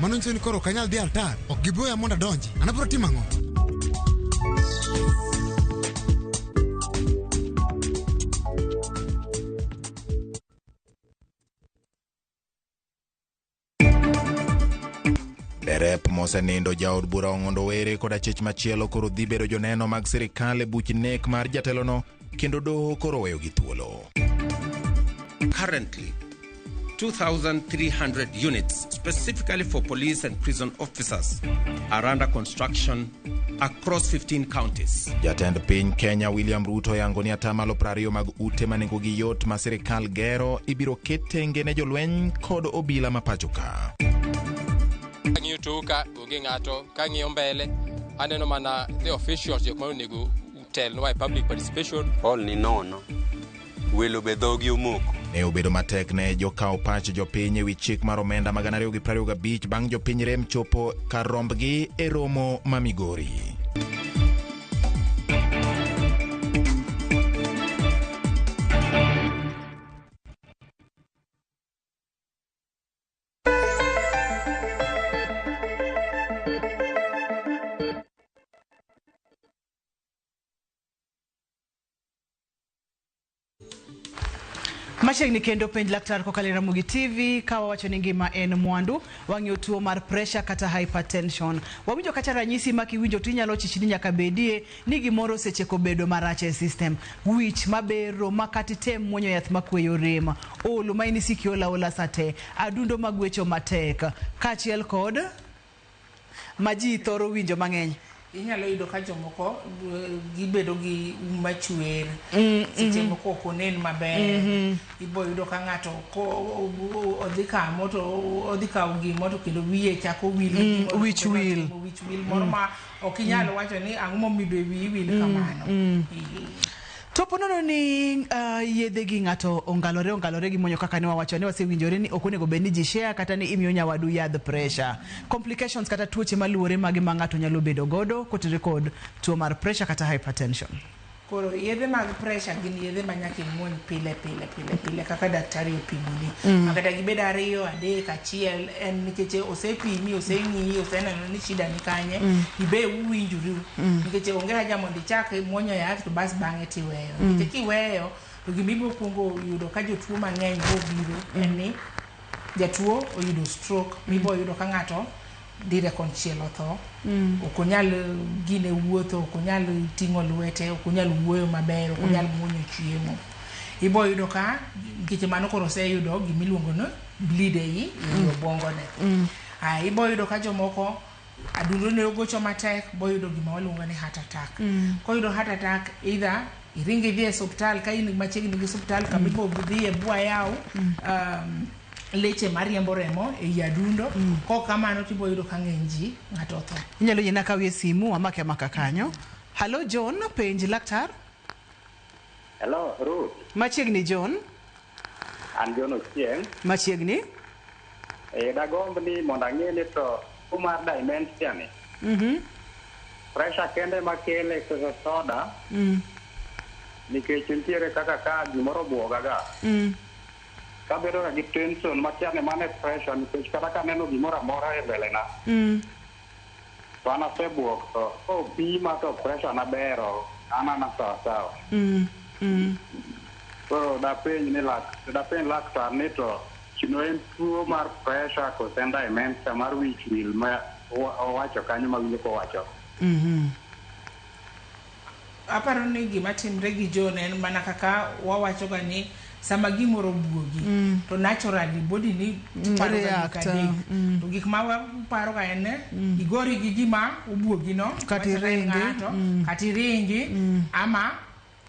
Mano nyiso ni koro ok anyal dhi altar. Ok giboya mondo adonji. An abiro timo ang'o?
Derep mosenindo jaod bura Ong'ondo Were kod achich machielo koro dhi bedo joneno mag sirikal e buch nek mar jatelono kendo doho koro weyogi thuolo.
Currently, 2,300 units specifically for police and prison officers are under construction across 15 counties. Jatend piny
Kenya William Ruto yango ni atamalo prariyo mag ute ma nengogi yot ma sirikal gero ibiro ket tenge ne jolweny kod obila ma pacho ka.
Kang'iyo toka onge ng'ato, kang'iyo mbele aneno mana the officials jok ma onego Tel why public participation. All ni nono.
Welo be dhogi omoko. Ne obedo matek
ne jokawo pach jopiny ewi chik mar omenda ma gana ariyo gi prariyo gabich bang' jopiny rem chopo kar rombgi e romo ma Migori.
Machiegni kendo penj laktar kokalo e Ramogi TV ka wawacho ni ngima en mwandu, wang'iyo tuo mar pressure kata hypertension. Wawinjo kata ranyisi ma kiwinjo to inyalo chichni nyaka bedie ni gimoro osecheko bedo marach e system. Wich mabero ma kata item muonyo yath makweyo rem, olo ma in isiki ola ola sate, adundo magwecho matek, kaachiel kod ma ji thoro winjo mang'eny. Inyalo yudo ka
jomoko gibedo gi um machwer, seche moko ok onen maber. Ibo yudo ka ng'ato odhi kamo to odhi kawo gimo to kendo wiye chako wil gi gimoro to wich wil.
Wich wil moro ma
ok inyal wacho ni ang'o momiyo be wiyi wil kamano. To
po nono ni uh, yedhe gi ng'ato ongalore ongalore gi monyo kaka ne wawacho ne wasewinjore ni ok onego bed ni ji share kata ni imiyo nyawadu yadh pressure. Complications kata tuoche maluwore mage ma ng'ato nyalo bedo godo kotenore kod tuo mar pressure kata hypertension. Koro yedhe
mag pressure gin yedhe ma nyaka imuony pile pile. pile pile kaka daktari opimoni mm. makata gibed ariyo adek achiel en nikech osepimi oseng'iyi oseneno ni shida ni kanye mm. ibe uwinjuru mm. nikech onge haja mondo ichak muonyo yath to bas bang'e tiweyo mm. nikech kiweyo to gima ibiro kuongo yudo ka jotuo mang'eny bobiro mm. en ni jatuo oyudo stroke mm. mibo yudo ka ng'ato dire konchiel otho mm. ok onyal gine wuotho ok onyal ting'o lwete ok onyal wuoyo maber ok onyal mm. muonyo chiemo ibo yudo ka nkeche mano koro oseyudo gima iluongo ni bleed e i mm. obwongone mm. ah, ibo yudo ka jomoko adundo ne ogocho matek boyudo gima waluongo ni heart attack mm. koyudo heart attack either Iringo idhi e suptal ka in machiegni gi suptal mm. kama ibo dhie bwa yaw mm. um, leche mariembo remo e yi adundo mm. ko kamano tibo yudo ka ng'eny ji ng'ato otho. Inyalo yena kawie
simu amake amaka kanyo. Hello John, penj laktar.
Hello Ruth. Machiegni John.
An
John Ochieng. Machiegni.
Eh,
dagomb ni mondo ang'e ni to tuo mar dementia ni. Mhm. Pressure kende ma kele koso soda? Mm. Nikech nitiere kaka ka gimoro obwoga ga. Mm. Kabedo ga gi tension makia ni mano e pressure nikech kata kaneno gimoro amora e mbele na. Mm. to an asebuok to ko pima to pressure na ber ok an ana sawa sawa. Mm, mm. Koro dapenj ni lak, dapenj laktar ni to kino en tuo mar pressure kose en dementia mar wich wil ma owacho kanyo mawinjo kowacho. Mhm.
Aparo ni gima timre gi John en mana kaka wawacho ga ni sama gimoro buogi mm. to naturally body ni mm, paro ga gik adek mm. to gik ma waparo ga en mm. igori gi gima obuogi no kati ringi
mm. kati ringi
mm. ama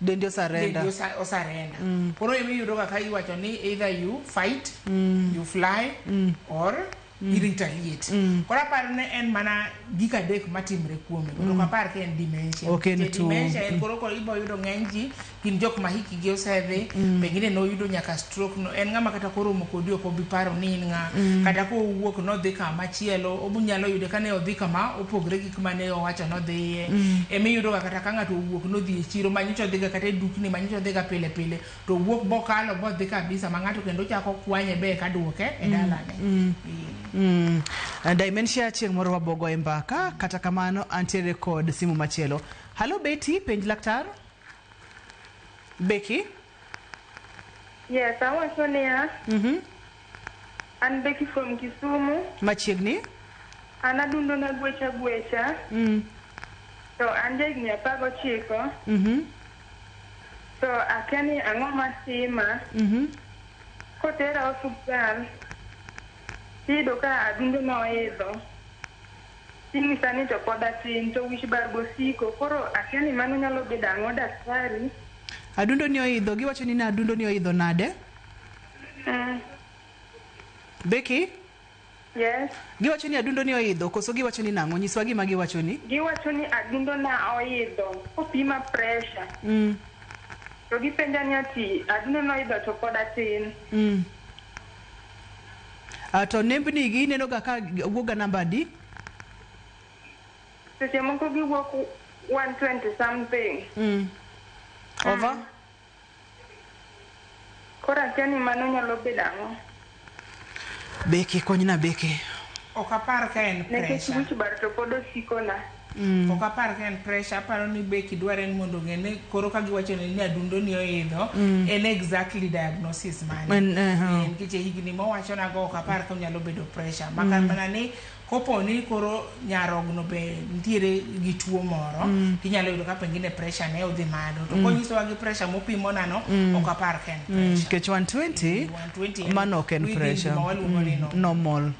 dendi
osarenda dendi osarenda
mm. koro imi yudo ga ka iwacho ni either you fight mm. you fly mm. or mm. irita liet mm. koro aparo ne en mana gik adek matimre kuome mm. ok apar ka en dementia okay, dementia en mm. koro koro ibo yudo ng'eny ji gin jok ma hiki gi osedhi mm. pengine ne oyudo nyaka stroke no en ng'ama kata koro omo kodi ok obi paro ni in ng'a mm. kata ka owuok nodhi kama chielo obunyalo yude ka ne odhi kama opogre gi kuma ne owacho nodhiye mm. ema iyudoga kata ka ng'ato owuok nodhi e chiro manyicha odhiga kata e dukni manyicha odhiga pile pile to wuok bokalo bodhi kabisa ma ng'ato kendo chako kwanye be eka duoke e mm, dalane mm. Mm. Uh,
Dimensia chieng' moro wabogo e mbaka kata kamano antiere kod simu machielo. Halo Betty, penj laktar. Becky?
Yes, awacho niya. Mhm. Mm An Becky from Kisumu. Machiegni.
An
adundo na gwecha gwecha. Mm. To an ja higni apar gochiko. Mm -hmm. To akia ni ang'o matima. Mm -hmm. Kotera osuptal, tiyudo ka adundo na oidho. Tinyisa ni to pod atin, to wich bar bosiko. Koro akia ni mano nyalo bedo ang'o daktari. Adundo ni
oidho, giwacho ni adundo ni oidho nade? Becky, Yes.
giwacho ni adundo
ni oidho koso giwacho ni nang'o? Nyiswa gima giwacho ni. Giwacho ni adundo
na oidho kopima pressure. Mm. To gipenja ni ati adundo na oidho to pod atin. Mm.
Ah, to nembni gi ineno ga ka wuok ga namba adi?
Seche moko giwuok 120 something. Mm. Over? Koro akia ni mano nyalo bedo ang'o.
Becky konyna Becky. Ok apar
ka en pressure. Nekech wich bar to pod
osikona. Mm. Ok apar
ka en pressure, aparo ni Becky dware ni mondo ong'e ni koro ka giwacho ni ni adundo ni oidho, mm. en exactly diagnosis mane. En, uh -huh. en kiche higni mowacho nago ok apar ka onyalo bedo pressure. Makar mm. mana ni Kopo ni koro nyarogno be nitiere gi tuo moro, mm. inyalo yudo ka pengine pressure ne odhi malo. To mm. konyisowa gi pressure mopimo nano, mm. ok apar ka en mm. pressure. Mm. Kech 120, 120
mano ok en pressure. Mm. Normal. Mm.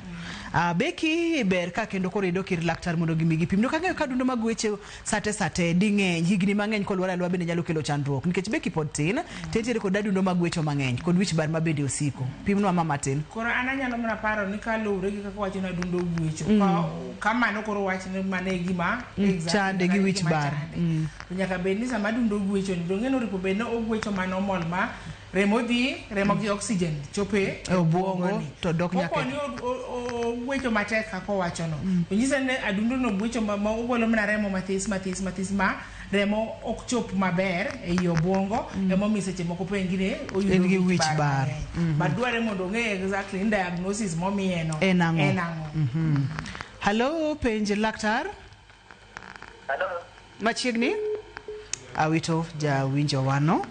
Uh, Becky ber ka kendo koro idok ir laktar mondo gimi gipim. Dok ang'eyo ka dundo mag weche Sate sate ding'eny higni mang'eny kolwar alwa bende nyalo kelo chandruok nikech be kipod tin to entiere kod adundo mag wecho mang'eny kod wich bar ma bende osiko. Pimnwa ma matin. Koro an anyalo mana
paro ni kaluwre gi kaka wacho ni adundo guecho, mm. ka, kamano koro wach ni mano e gima mm. exactly, chande gi wich
bar. Mm. Nyaka bed
ni sama adundo guecho ni dong'e ni oripo bed ni oguecho mano mol ma Remo dhi, remo gi oxygen chopo e E obwongo obwongoni. to
dok nyaka e- Koponi o- o- o-
ogwecho matek kaka owachono, to nyisa ni adundono ogwecho ma ma ogolo mana remo mathis mathis mathis ma remo ok chop maber e i obwongo emomiyo seche moko po en gine oyudo En gi wich wich bar.
mang'eny. But dwarore mondo
ong'e exactly ni diagnosis momiyeno En ang'o? en ang'o.
Hello, penj laktar.
machiegni
awito jawinjo wano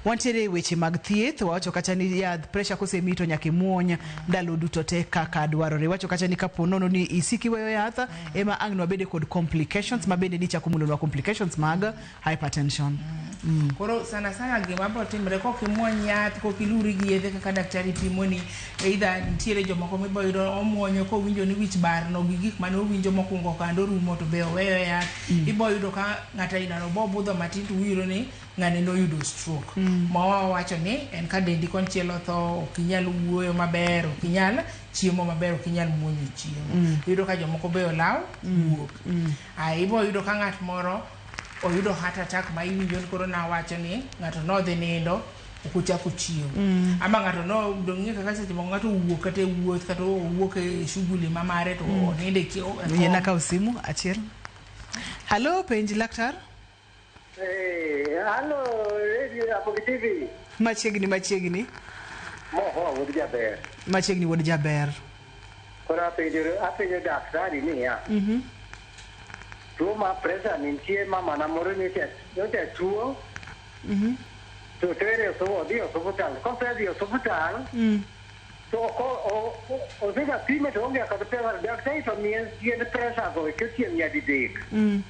wantiere e weche mag thieth wawacho kacha ni yadh presha kosemi to nyaka imuony ndalo duto te kaka dwarore wacho kacha ni kapo nono ni isiki weyo yath ema ang' nwabede kod complications mabende nichako mulonwa complications mag hypertension mm. Mm. Koro
sana sana gima biro timre kok imuony yath kok iluri gi yedhe kaka daktari pimoni either nitiere jomoko mibo yudo omuonyo kowinjo ni wich barno gi gik mane owinjo mokwongo kando orumo to be oweyo yath mm. ibo yudo ka ng'ato ainano bo budho matin to uyudo ni ng'ani noyudo stroke mm. ma wawacho ni en ka dendi konchiel otho ok inyal wuoyo maber ok inyal chiemo maber ok inyal muonyo chiemo mm. yudo ka jomoko be olaw mm. wuok mm. a ibo yudo ka ng'at moro oyudo heart attack ma iwinjo ni koro nawacho ni ng'ato nodhi nindo ok ochak ochiew mm. ama ng'ato nodong'e kaka seche moko ng'ato owuok kata e wuoth kata owuok e shughuli ma mare to mm. oninde chiewyen akaw simu
achiel halo penj laktar
halo radio Ramogi TV machiegni machiegni
moho
wuod jaber machiegni wuod jaber
koro
apenjo apenjo daktari niya mm -hmm. Tuo mar pressure ni nitie mamana moro nyocha nyocha tuo Mhm. to tere osu- odhi e osuptal. Kosedhi e osuptal Mm. to ok o- o- o- osega pime to onge kod pressure. Daktari to miye yend pressure go to chieng' nyadidek. Mm.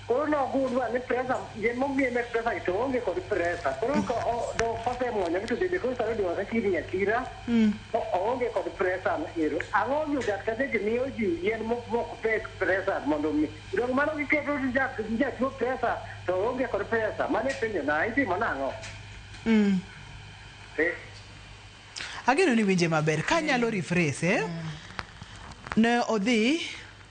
Koro nogundwa ni pressure yien momiye med pressure to onge kod pressure. Koro ko- o- do- kosemwonyo to bende koro sani odong' akakirni akira. to oonge kod pressure ero. Ang'o momiyo dakteche miyo ji yien mok pek pressure mondo omi. Donge mano giketo ni jatuo pressure to oonge kod pressure? Mano e penjo na. Itimo nang'o?
Eeh. Ageno ni iwinje maber. Ka anyalo rephrase, ne odhi.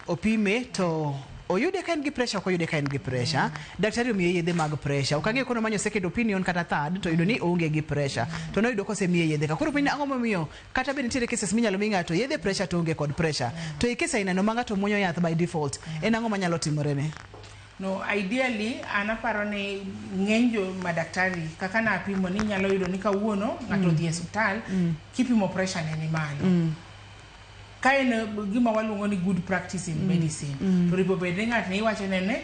opime to oyude ka en gi pressure ok oyude ka en gi pressure daktari omiye yedhe mag pressure ok ang'eyo kono manyo second opinion kata third to yudo ni oonge gi pressure to noyudo kosemiye yedhe ka koro penjo ang'o momiyo kata bed nitiere cases minyalo mi ng'ato yedhe pressure to onge kod pressure to e kes ainano ma ng'ato muonyo yath by default en ang'o manyalo timorene No,
ideally an aparo ni ng'eny jo madaktari kaka napimo ni nyalo yudo ni kawuono ng'ato odhi e osiptal kipimo pressure ne ni malo. Ka en gima waluongo ni good practice in medicine, to ripo bed ni ng'at ne iwacho ne ne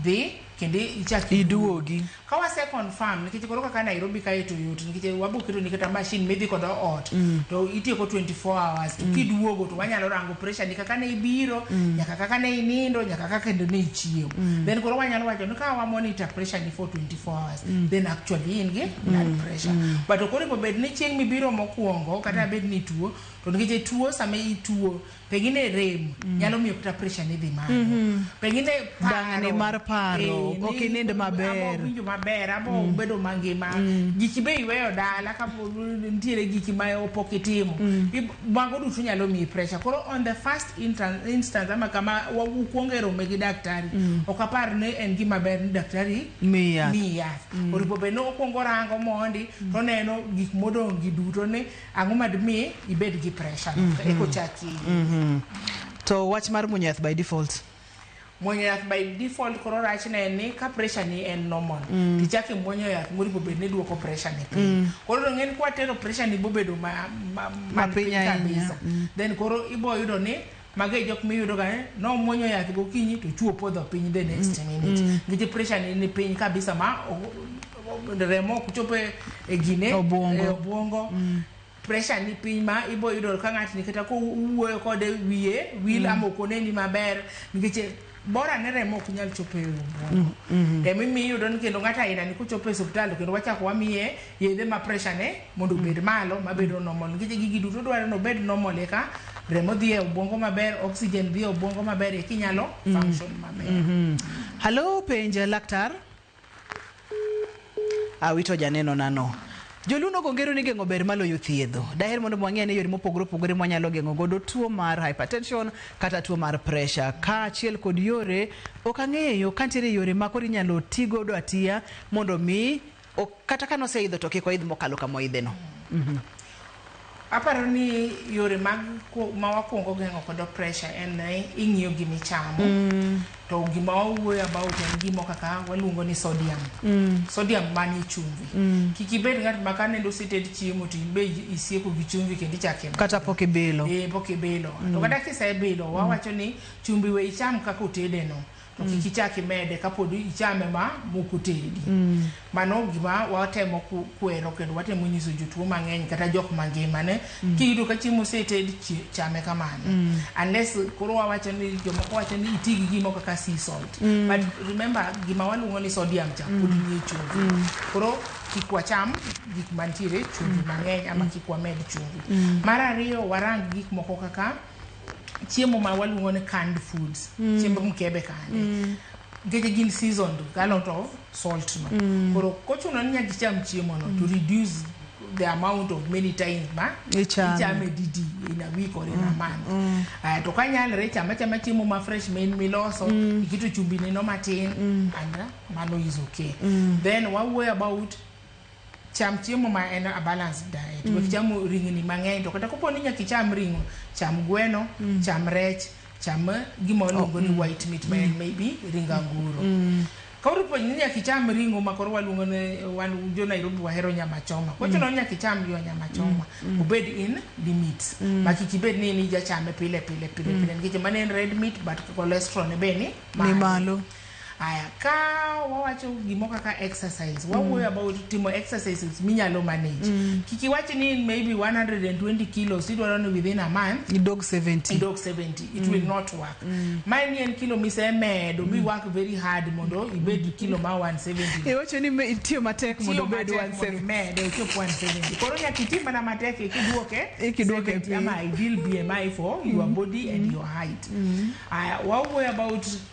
dhi kendo ichak Iduogi. Ka
wase confirm
nikech koro kaka Nairobi kae to yot nikech wabo keto ni kata machine midhi kodo ot to itieko 24 hours to kiduogo to wanyalo rango pressure ni kaka ne ibiro nyaka kaka ne inindo nyaka kaka kendo ne ichiew. Then koro wanyalo wacho ni ka wa monitor pressure ni for 24 hours then actually in gi blood pressure. But koro ripo bed ni chieng' mibiro mokuongo kata bed ni ituo To nikech tuo sama ituo pengine rem nyalo miyo kata pressure ni dhi malo. Pengine paro. Dang'ni mar
paro, Eh, ok ni- inind maber. ama ok winjo maber ama
ok bedo mangima giki be iweyo dala ka po- nitiere giki ma pok itimo I- mago duto nyalo miyi pressure koro on the first intan- instance ama kama wa- ukuongo e rome gi daktari ok apar ni en gima ber ni daktari Miyi yath. miyi yath
oripo bed
ni okuongo rango mondi to oneno gik modong' gi duto ni Ang'o ma dimi ibed gi pressure no? Mm-hmm. Eko chaki. Mm-hmm.
To wach mar muonyo yath by default. Muonyo yath
by default koro rach ne ni ka pressure ni en normal. Mm. Tichaki muonyo yath muri bobed ni duoko pressure ni piny. Mm. Koro ng'en kwa tero pressure ni bobedo ma ma, ma, ma piny kabisa. Mm. Then koro ibo yudo ni Mago e jok miyudo ga eh, nomuonyo yath gokinyi to chuo podho piny the next minute. Nikech pressure ne ni piny kabisa ma o- o- remo ok chop e e gine Obwongo. e obwongo. Pressure ni piny ma ibo yudo ka ng'atni kata kowuoyo kode wiye wil ama ok oneni maber nikech Bora ne remo ok nyal chopo e obuongo. Mm-hmm. Ema imiyo iyudo ni kendo ng'ato aina ni kochopo e osiptal to kendo wachako wamiye yedhe ma pressure ne mondo obed malo mabedo normal nikech gigi duto dwarore ni obed normal eka remo dhi e obuongo maber, oxygen dhi e obuongo maber eka inyalo mm-hmm. function maber. Mm-hmm. Hello,
penja laktar. Awito janeno nano. Joluno gongero ni geng'o ber maloyo thiedho. Daher mondo mwang'e ane yore mopogore opogore mwanyalo geng'o godo tuo mar hypertension kata tuo mar pressure. Kaachiel kod yore ok ang'eyo ka nitiere yore ma koro inyalo ti godo atiya mondo mi ok- kata kanoseidho to kik oidh mokalo kama oidheno.
Aparo ni yore mag ku- ma wakwongo geng'o kodo pressure en ni ing'iyo gima ichamo to gima wawuoyo about en gimo kaka waluongo ni sodium sodium manie chumvi kik ibed ng'at ma ka nende oseted chiemo to in be i- isieko gi chumvi kendo ichako imadho. kata pok ibilo
Eh, pok ibilo to
kata kisebilo wawacho ni chumbi we icham kaka otedeno to kik ichak imede kapod ichame ma mok otedi. Mano gima watemo ku- kwero kendo watemo nyiso jotuo mang'eny kata jok mangima ne kiyudo ka chiemo oseted chi- chame kamano unless koro wawacho ni jomoko wacho ni iti gi gimo kaka sea salt but remember gima waluongo ni sodium cha pod nie chumbi koro kik wacham gik mantiere chumbi mang'eny ama kik wamed chumbi mar ariyo warang gik moko kaka chiemo ma waluongo ni canned foods mm. chiemb mkebe kande mm. nikech gin season a lot of salt no mm. koro kochuno ni nyaka icham chiemo no mm. to reduce the amount of many times ma ichame didi in a week or in a mm. month mm. uh, to kanyalre ichama chama chiemo ma fresh main miloso mm. ikito chumbi neno matin mm. and uh, mano is okay mm. then wawuoyo about Cham chiemo ma en a balanced diet. Mm. Wek chamo ringni mang'eny to kata kopo ni nyaka icham ring'o, cham gweno, mm. cham rech, cham gima waluongo oh, ni mm. white meat ma en mm. maybe ring anguro. Mm. Koro po ni nyaka icham ring'o ma koro waluongo ni wan jo Nairobi wahero nyama choma. Kwa chuno mm. nyaka icham jo nyama choma. Mm. Obed in limits. Mm. Ma kik ibed ni ni jachame pile pile pile mm. pile. Nikech mano en red meat but cholesterol ne be ni malo. Ni malo.
Aya, ka
wawacho gimo kaka exercise, wawuoyo mm. about timo exercises minyalo manage. Mm. Kik iwach ni in maybe 120 kilos idwaro ni within a month idog 70. Idog
70. It mm. will
not work. Mm. Ma ni en kilo mise medo mm. mi work very hard mondo ibed mm. kilo ma 170. Iwacho ni itiyo
matek mondo obed 170. Medo ichop 170.
Koro nyaka iti mana matek ikiduoke. Ikiduoke piny. Ama ideal BMI for mm. your body mm. and your height. Mm. Aya, wawuoyo about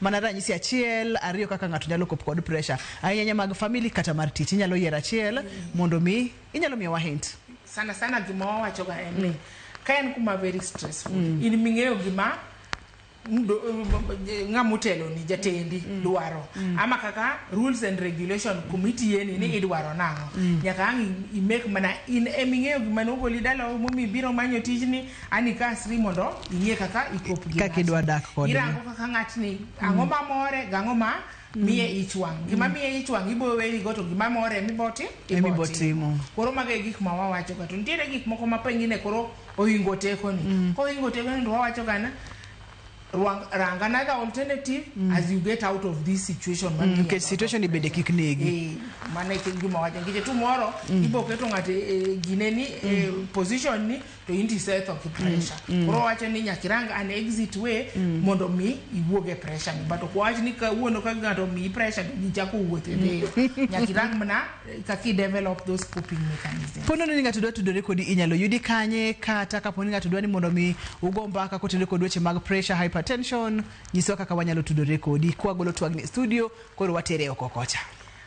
Mana ranyisi achiel, ariyo kaka ng'ato nyalo kop kod pressure. Ahinya ahinya mag family kata mar tich. Inyalo yiero achiel mondo mi inyalo miyowa hint. sana sana gima
wawachoga en ni ka en kuma very stressful in ming'eyo gima mdo- ng'ama oteloni jatendi dwaro ama kaka rules and regulation kuma itiyeni ni idwaro nang'o nyaka ang' i- i make mana in eming'eyo gima nogoli dala momi biro manyo tijni Ani kasri mondo ing'e kaka ikop gi kaka idwa dak kode. Irango
kaka ng'atni
ang'o ma more gang'o ma miye ich wang'. Mm. Gima miye ich wang' ibo weri go to gima more miboti ibo timo. Koro mago e gik ma wawacho ga to nitiere gik moko ma pengine koro ohingo teko ni. Mm. Ko ohingo teko ni to wawacho ga na rang another alternative mm. as you get out of this situation mm, nikech situation
ibede kik negi eh, mana ikigima
wacho nikech tomorrow mm. ibo keto ng'ato e, e, gine ni e, mm. position ni to in tisetho gi pressure mm, mm. koro wacho ni nyaka irang an exit way mm. mondo mi iwuog e pressure ni but okwawach ni kawuono ka ng'ato omiyi pressure to gichako wuoth e deyo nyaka irang mana eh, kaka idevelop those coping mechanisms po nono ni ng'ato dwa tudore
kodi inyalo yudi kanye kata kapo ni ng'ato dwa ni mondo mi ugo mbaka kotudore kod weche mag pressure hypertension nyiswa kaka wanyalo tudore kodi kwagolo twagni e studio koro watere oko kocha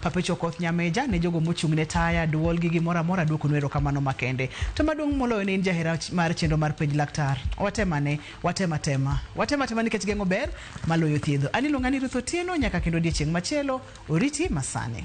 Papecho Okoth Nyameja, ne jogo mochung' ne taya, dwol gi gimoro amora duokonu erokamano makende. To maduong' moloyo ne in jahera mar chenro mar penj laktar. Watemane, watem atema. Watem atema nikech geng'o ber maloyo thiedho. An iluonga ni Ruth Otieno nyaka kendo odiechieng' machielo, oriti masani.